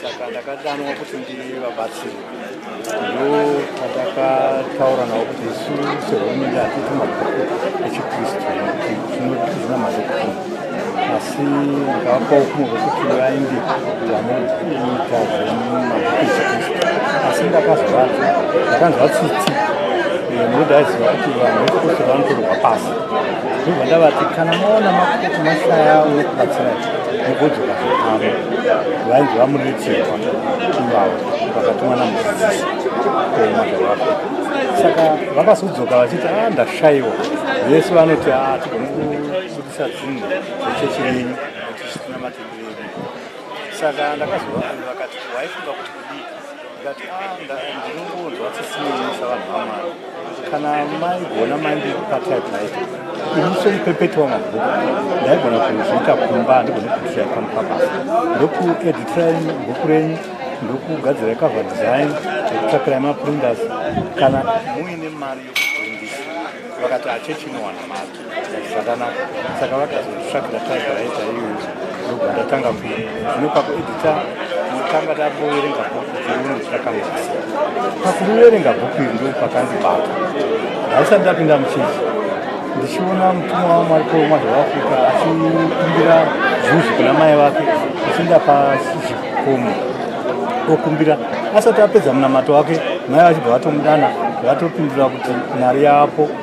saka ndakadanwa kuti ndivabatsiri ndo patakataura navo kuti isu sehurumende hatiti mabhuku echikristu tinozvina madokuma asi ndikavapawo kumwe vekuti vaindi vanoita zvemabhuku echikristu asi ndakazovati ndakanzwa tsitsi nekuti aiziva kuti vanhu vekukristu vanotorwa pasi ndobva ndavati kana maona makuti mashaya unokubatsirai nekudzoka zvepamwe vainzi vamuriritsigwa ivavo vakatumwa namudzidzisi kuoma zvavapa saka vakazodzoka vachiti a ah, ndashaiwa vese vanoti a ah, tigone kubudisa dzinhu dzechechi yenyu kuti zvitinamatirire saka ndakazovaani vakati waifunga kuti kudii ndinongonzwa sisimuisa vanhu vamwari kana maigona mandipatyaipaita ini somupepeti wamabhuku ndaigona kuzviita kumba ndigone kutisai pano pabasa ndokueditirai bhuku renyu ndokugadzirai cover design ndokutsvakirai maprinders kana muine mari yokuprindisa vakati achechi inowana mari zvakanaka saka vakazotsvagira taiga yaita iyoyo ndobva ndatanga ku zvino pakuedita tanga tamboverenga bhuku dzeuno takamuisa pakuverenga bhuku iri ndo pakandibata ndaisati ndapinda muchechi ndichiona mutumwa wamwari komwari waafrica achikumbira zvuzi kuna mai vake achienda pasizhikomo okumbira asati apedza munamato wake mai vachibva vatomudana vatopindura kuti mari yapo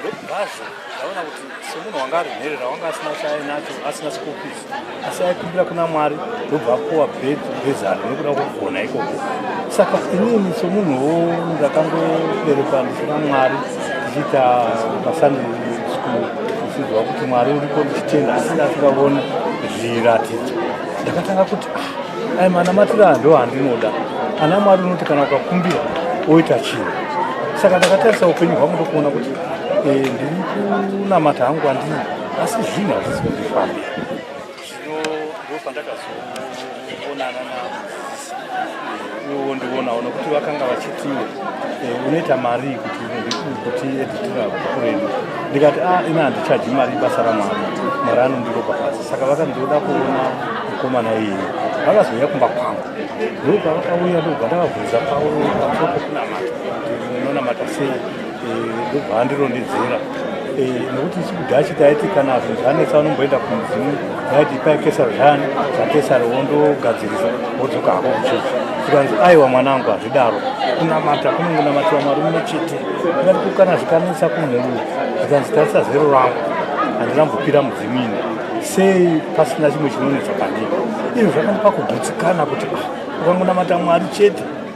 ndokubvazvo ndaona kuti semunhu wanga ari mhere rawanga asina chaainacho asina sikopisi asi aikumbira kuna mwari ndobva apuwa bezano nekuda kwokugona ikoko saka inini semunhuwo ndakangoberekwa ndisina mwari ndichiita masani school ndichiziva kuti mwari uripo ndichitenda asi ndasingavoni zviratidzo ndakatanga kuti ah, ayi manamatira aya ndo andinoda ana mwari unoti kana ukakumbira oita chinhu saka ndakatarisa upenyu hwangu ndokuona kuti eh, ndiri kunamata hangu andini asi zvinhu hazvisi kundifamba zvino ndopandakazoonana navo iwo ndionawo nokuti vakanga vachiti eh, unoita mari kuti kuti editira kuredu ndikati a ah, ina handichaji mari ibasa ramwari mwari anondiropa pasi saka vakandiroda kuona mukomana iyi vakazouya kumba kwangu ndokavakauya ndokubva ndakabvunza pauro pamusoro pokunamata kuti unonamata sei ndobva andirondedzera nokuti chikudachi taiti kana zvinhu zvanetsa unomboenda kumudzimu yaiti ipai kesaro zvani zvakesaro wondogadzirisa wodzoka hako kuchechi zvikanzi aiwa mwanangu hazvidaro kunamata kunongonamatiwa mwari mumwe chete ingati kukana zvikanetsa kumhuru zvikanzi tarisa zero rangu handinambopira mudzimu ini sei pasina chimwe chinonetsa pandii izvo zvakandipa kugutsikana kuti ah, ukangonamata mwari chete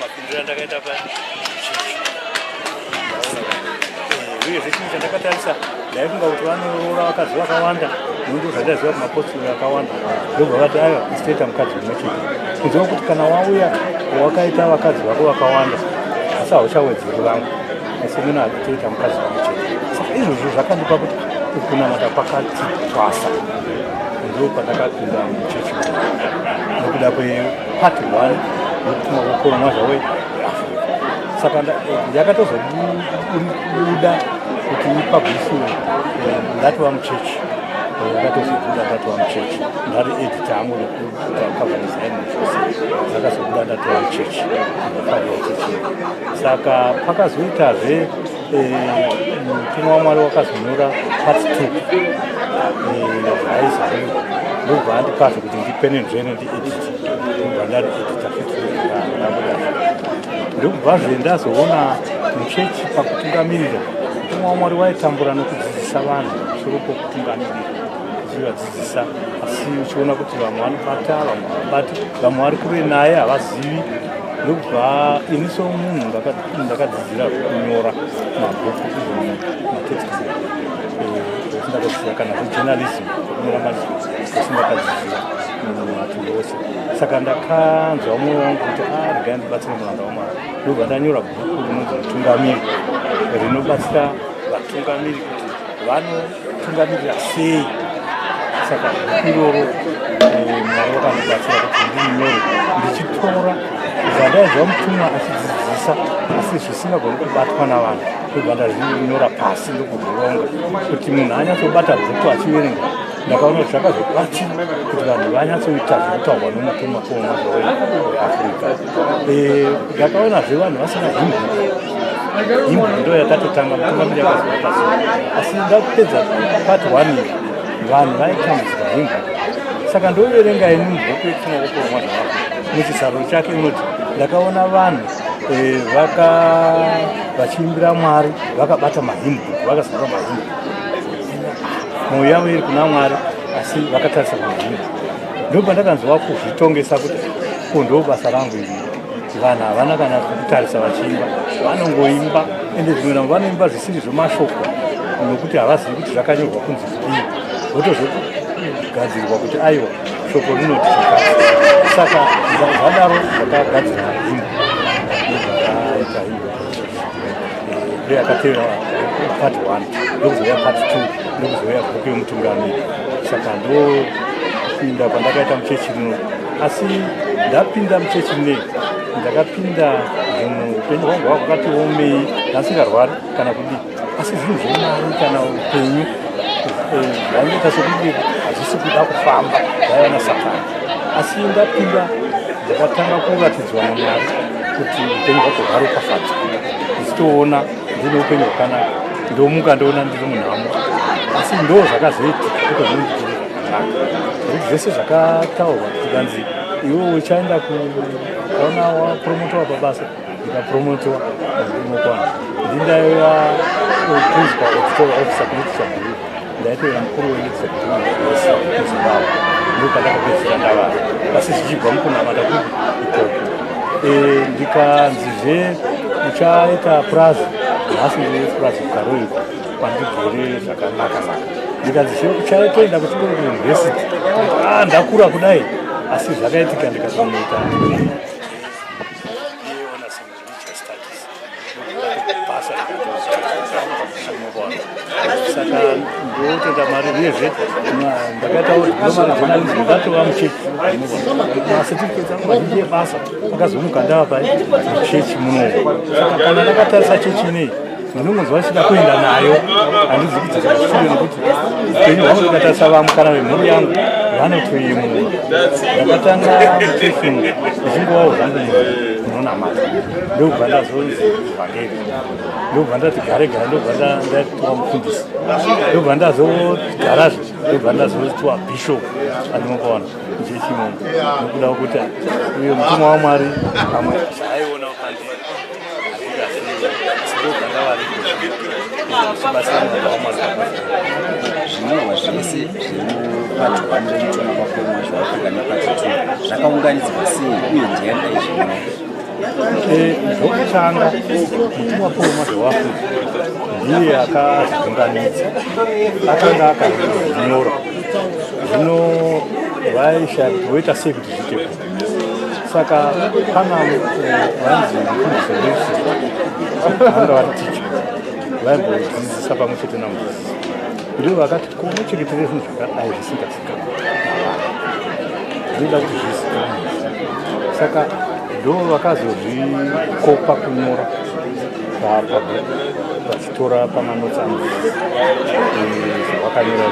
mapindiro andakaita pa uye zvese chinhu chandakatarisa ndaifunga kuti vanoroora vakadzi vakawanda nondu zvandaziva kuti mapostori akawanda ndobva vati aiwa isitoita mukadzi umwe chete kuziva kuti kana wauya wakaita vakadzi vako vakawanda asi hauchawedzeri vangu asi mino hazvitoita mukadzi wangu chete saka izvozvo zvakandipa kuti ukunamata kwakati twasa ndo pandakapinda muchechi nokuda kwepart one yokutuma kukoromwa zvawe saka yakatozobuda kuti ipublishiwe eh, ndatova muchechi eh, yakatozobuda ndatova muchechi ndari edita angu nekuru akazobuda ndatoa chechi akafarira chechi saka pakazoitazve eh, mutumwa wamwari wakazonyora pati two zvaizoe eh, ndobva andipazve kuti ndipenenzveno ndiedit ndobva ndari edita fitnambuda ndokubvazve ndazoona muchechi pakutungamirira mutumwa wamwari waitambura nokudzidzisa vanhu musoro pokutungamirira kudzidzisa asi uchiona kuti vamwe vanobata vamwe havabati vamwe vari kure naye havazivi ndokubva ini somunhu ndakadzidzira kunyora mabhuku izvona matext sindakadzidzira kana zvejournalism kunyora mazvii sindakadzidzira matumbi ose saka ndakanzwa mwoyo wangu kuti aregai ah, ndibatsire muranda wamwari ndobva ndanyora bhuku rinonzi mutungamiri rinobatsira vatungamiri kuti vanotungamirira sei saka iroro eh, mwari vakandibatsira kuti ndinyore ndichitora zvandaizva mutumwa achidzidzisa asi zvisingagoni kubatwa navanhu ndobva ndazvinyora pasi ndokuzvironga kuti munhu anyatsobata bhuku achiverenga ndakaona kuti zvakazobatsira kuti vanhu vanyatsoita zvinotaurwa nomutumwa kuona zvoeafrica Eh, ndakaona zve vanhu vasina himbo himbo ndo yakatotanga mutungamiri yakazoa pasi asi ndakupedza part one iyi vanhu vaitambudzika himbo saka ndoverenga ini mubhuku yekufuna kutorwa mwana wako muchisaro chake inoti ndakaona vanhu eh, vaka vachiimbira mwari vakabata mahimbo vakazara mahimbo mwoyo yavo iri kuna mwari asi vakatarisa mahimbo ndopandakanzwa kuzvitongesa kuti ko ndo basa rangu iri vanhu havana kana kutarisa vachiimba vanongoimba ende zvimwe navo vanoimba zvisiri zvemashoko nokuti havazivi kuti zvakanyorwa kunzi kudii votozogadzirwa kuti aiwa shoko rinoti saka zvadaro zvakagadzirwa himbo ndiyo yakatevera part one ndokuzouya part two ndokuzouya bhuku yomutungami saka ndopinda pandakaita muchechi rino asi ndapinda muchechi rine ndakapinda zvinhu upenyu hwangu hwakatiomei ndasingarwari kana kudii asi zvinhu zvemari kana upenyu zvaingoita eh, sokuti hazvisi kuda kufamba zvaiva nasatani asi ndapinda ndakatanga kuratidzwa namwari kuti upenyu hwako hwari ukafadza ndichitoona ndine upenyu hwakanaka ndomuka ndoona ndiri munhamo asi ndo zvakazoiti kutozoiiaa nokuti zvese zvakataurwa zvikanzi iwe uchaenda kuona wapromotowa pabasa ndikapromotwa ndinokwana ndindaiva kuzwa editorial officer kulitiswa group ndaitoira mukuru weeditorial group wese muzimbabwe ndokandakapedzera ndavara asi zvichibva mukunamata kuti ikoko eh, ndikanzizve uchaita purazi nhasi ndine purazi kukaroiko kwandigere zvakanaka saka ndikanzizve uchatoenda kuchikoro kuuniversity ah, ndakura kudai asi zvakaitika ndikatonoita saka ndotenda mari uyezve ndakataura ndomarejonalizi ndatova muchechi masetifiketes angu mazhinji ebasa akazomuka ndava pai muchechi munomu saka kana ndakatarisa chechi inei ndinongonzwa ndichida kuenda nayo handizi kuti zvazviri nekuti upenyu hwangu ndakatarisa vamukana vemhuri yangu vanotoyemura ndakatanga mutefingu ndichingovawo zvangu munonamata ndokubva ndazonzi vhangeri ndokubva ndati gare gare ndokubva ndatiwa mufundisi ndokubva ndazogarazve ndokubva ndazotiwa bishop andinokaona njechimomo nokuda kwekuti uyo mutumwa wamwari pamwe zvinyorwa zvese zvemupati hwani remuchona kwakoma zvaafrika nepati two zvakaunganidzwa sei uye ndiani aizvinyorwa zvokutanga mutumwa paul mwaze waafrika ndiye akazviunganidza akanga akazvinyora zvino vaisha voita sei kuti zviite saka pana vanzi mufundisi vese vanga vari ticha vaimbodzidzisa pamwe chete namudzidzisi ndivo vakati kunocheketere zvinhu zvakadai zvisingazikanwa zvinoda kuti zvizikanwe saka ndo vakazozvikopa kunyora pabhuku tora pamanotsangu zvakanyora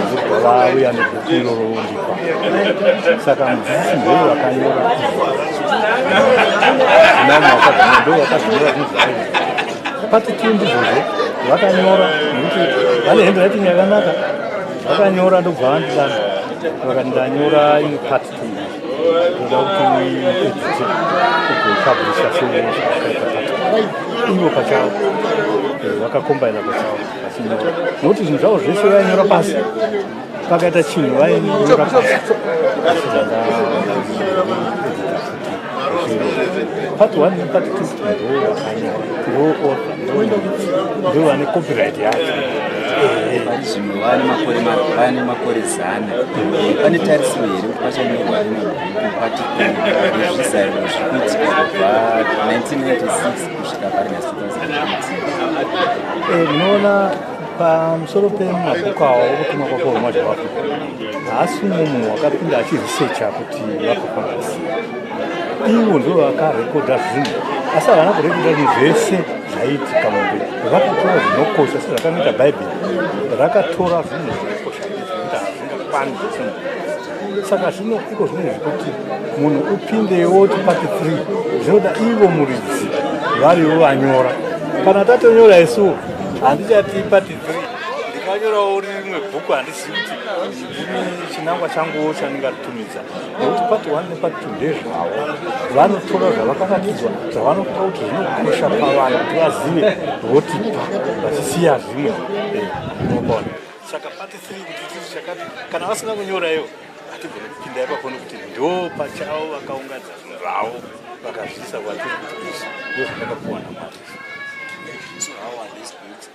zvokubva vauya nebhuku iroro vondipa saka mudzidzisi ndee vakanyora nani wakazvina ndo wakazvinyora zvinhu zvakanyora pati tuu ndizvozvo vakanyora nekuti vane handwriting yakanaka vakanyora ndobva vandidana vakati ndanyora ini pati ivo pachavo vakakombaina pachavo nokuti zvinhu zvavo zvese vainyora pasi pakaita chinhu vainyora pasi part 1 nepart 2 ndo vane copyright yacho vari zvimwe vane makore vane makore zana pane tarisiro here kuti pachanyorwa rimwe bhuku pati zvizairo zvikuitika kubva 1996 kusvika pari na 2018 munoona pamusoro pemabhuku awo okutumwa kwakohomwa zvavafuna haasi umwe munhu wakapinda achiresecha kuti vakafamba sei ivo ndo vakarekodha zvinhu asi havana kurekodha zvinhu zvese zvaiitika mumbe vakatora zvinokosha sezvakanoita bhaibheri rakatora zvinhu zvinokosha izvinda hazvingakwane zvese munhu saka zvino iko zvinhu zvekuti munhu upindewo tipati free zvinoda ivo muridzi varivo vanyora kana tatonyora isuwo handichati pati free ndikanyorawo rimwe bhuku handisi ini chinangwa changuwo chandingaritumidza nekuti pati one nepati two ndezvavo vanotora zvavakaratidzwa zvavanopa kuti zvinokosha pavanhu kuti vazive votipa vachisiya zvimwe eh, unobona saka pati three kuti chii chakati kana vasina kunyora iyo hatigone kupinda ipapo nekuti ndo pachavo vakaungadza zvinhu zvavo vakazviisa kwatiri kuti izvi ndozvandakapuwa namwari